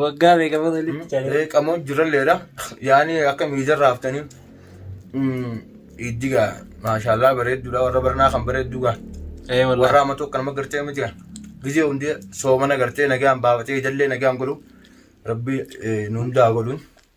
Waggaa meeqa booda walitti caalee? Reeqamoo jiralleedha. Yaani akka miijarra haftanii. Iddiga maashaallah bareedduudha warra barnaa kan bareedduuga. Ee Warra wallahi. amma tokko nama gartee miti kan. Gizee hundee soomana gartee nagaan baafatee ijallee nagaan godhu. Rabbi eh, nu hundaa godhuun.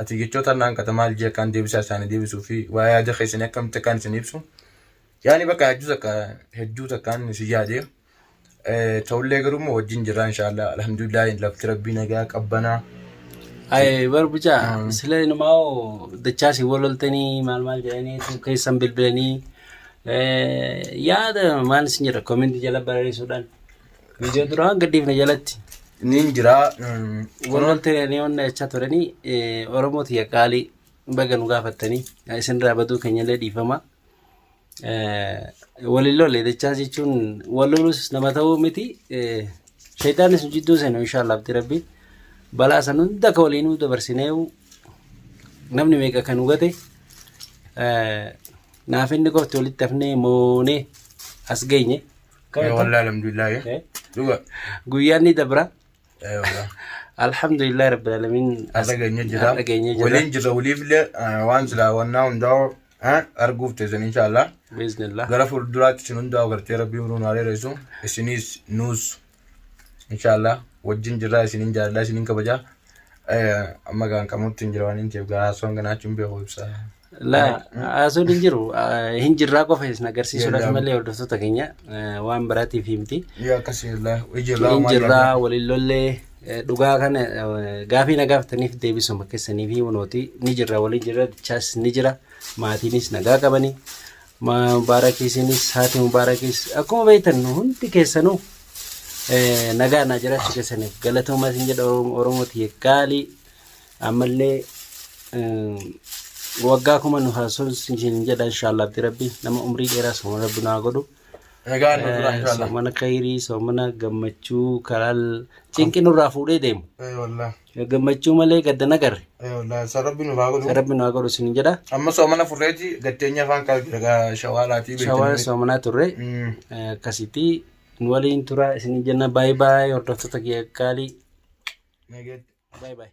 Ati jechoota harna hanqata maal jee akkaan deebisaa isaanii deebisuu fi waa yaada keessanii akkamitti akkaan isin ibsu. Yaani bakka hedduu takka hedduu takkaan isin yaade. Ta'ullee garuu immoo wajjin jirraa inshaallah alhamdulillah lafti rabbii nagaa qabbanaa. Aye bar buca sila inumao dachasi wololteni mal mal jedhani tu keessan bilbilani yaada maal isin jedha kominti jala barreessuudhaan Viidiyoo duraa hin gadhiifne jalatti. Niin jira. mm, Wal galtee ni onna jechaa turanii eh, Oromoo tiyya qaalii baga nu gaafattanii Eh, isinirraa baduu keenyallee dhiifama. Eh, Waliin lolle jechaa jechuun wal lolus nama ta'uu miti. Eh, Sheexaanis nu jidduu seenu inshaallah abdi rabbi. Balaa san hunda akka waliin nu dabarsineewu namni meeqa kan hubate eh, naaf inni qofti walitti hafnee moonee as geenye Ee, wallah alhamdulillah ya. Eh. Dhuga. Guyyaan ni dabra. Ee, wallah. Alhamdulillah rabbil alamin. Har'a geenye jira. Har'a geenye jira. Waliin jirra waliifillee eh, waan silaa wannaa hundaa eh, arguuf teessan inshaallah. Biiznillah. Gara fuulduraatti isin hundaa gartee rabbii hunduu nu hareeressu. Isinis nuus inshaallah wajjin jirraa isinin jaalladha isinin kabajaa. Amma kan qamutti hin jira waan hin ta'eef garaa osoo hin ganaachuun beeku ibsa. Laa haasuun hin jiru hin jirraa qofa isin agarsiisuudhaaf malee hordoftoota keenya waan biraatiif himti. Yoo akkasii illee ijirraa Hin jirraa waliin lollee dhugaa kana gaafii na gaafataniif deebisuma keessanii fi hunooti ni jirra waliin jirra dichaas ni jira maatiinis nagaa qabanii mabaarakiisinis haati mubaarakiis akkuma beektan hundi keessanuu Nagaa naa jiraachuu keessaniif galatoomaa isin jedha Oromoo tiyya gaalii ammallee waggaa kuma nu haa sonsu isin jedha inshaallah abdi rabbi nama umrii dheeraa sooma rabbi nu haa godhu. Egaa nu dura inshallah. Soomana khayrii soomana gammachuu karaa cinqi nurraa fuudhee deemu. Eh wallah. Gammachuu malee gadda nagarre. San rabbi nu haa godhu. San rabbi nu haa godhu sin jedha. Amma soomana furreeti gatteenya afaan qaba jira shawaalaatii beektan. Shawaa soomanaa turre. Akkasitti nu waliin tura isin jenna baay'ee baay'ee hordoftoota kiyya gaalii. Baay'ee baay'ee.